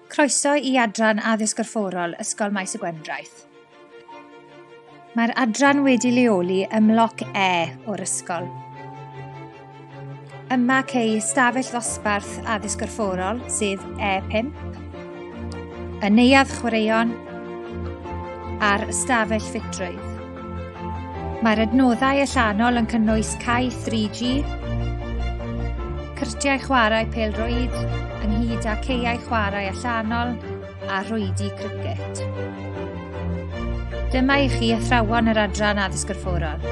Croeso i Adran Addysg Gorfforol Ysgol Maes y Gwendraeth. Mae'r adran wedi leoli ym mloc E o'r ysgol. Yma cei ystafell ddosbarth addysg gorfforol, sef E5, y neuadd chwaraeon a'r ystafell ffitrwydd. Mae'r adnoddau allanol yn cynnwys cae 3G, cyrtiau chwarae pêl-rwyd, ynghyd â caeau chwarae allanol a rhwydi cricet. Dyma i chi athrawon yr Adran Addysg Gorfforol.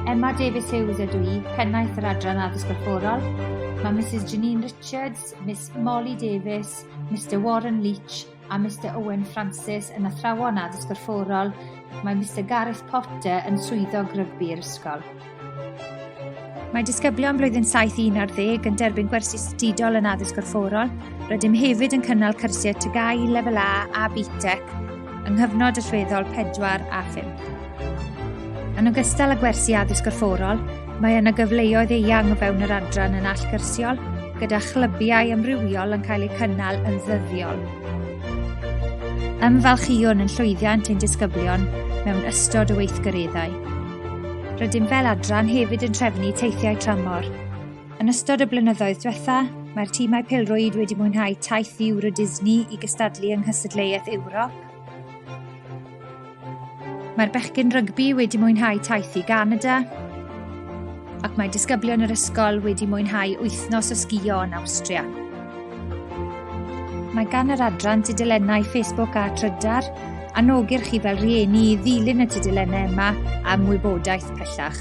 Emma Davies Hughes ydw i, pennaeth yr Adran Addysg Gorfforol. Mae Mrs Janine Richards, Miss Molly Davies, Mr Warren Leach a Mister Owen Francis yn athrawon addysg gorfforol, mae Mister Gareth Potter yn swyddog rygbi'r ysgol. Mae disgyblion blwyddyn 7 i 11 yn derbyn gwersi statudol yn addysg gorfforol. Rydym hefyd yn cynnal cyrsiau TGAU lefel A a BTEC yng nghyfnod allweddol 4 a 5. Yn ogystal â gwersi addysg gorfforol, mae yna gyfleoedd eang o fewn yr adran yn allgyrsiol, gyda chlybiau amrywiol yn cael eu cynnal yn ddyddiol. Ymfalchïwn yn llwyddiant ein disgyblion mewn ystod o weithgareddau. Rydym fel adran hefyd yn trefnu teithiau tramor. Yn ystod y blynyddoedd diwetha, mae'r tîmau pelrwyd wedi mwynhau taith ddiwr o Disney i gystadlu yng Nghystadleuaeth Ewrop, Mae'r bechgyn rygbi wedi mwynhau taith i Ganada ac mae disgyblion yr ysgol wedi mwynhau wythnos o sgio yn Awstria. Mae gan yr adran tudylennau Facebook a Trydar anogir chi fel rhieni i ddilyn y tudylennau yma am wybodaeth pellach.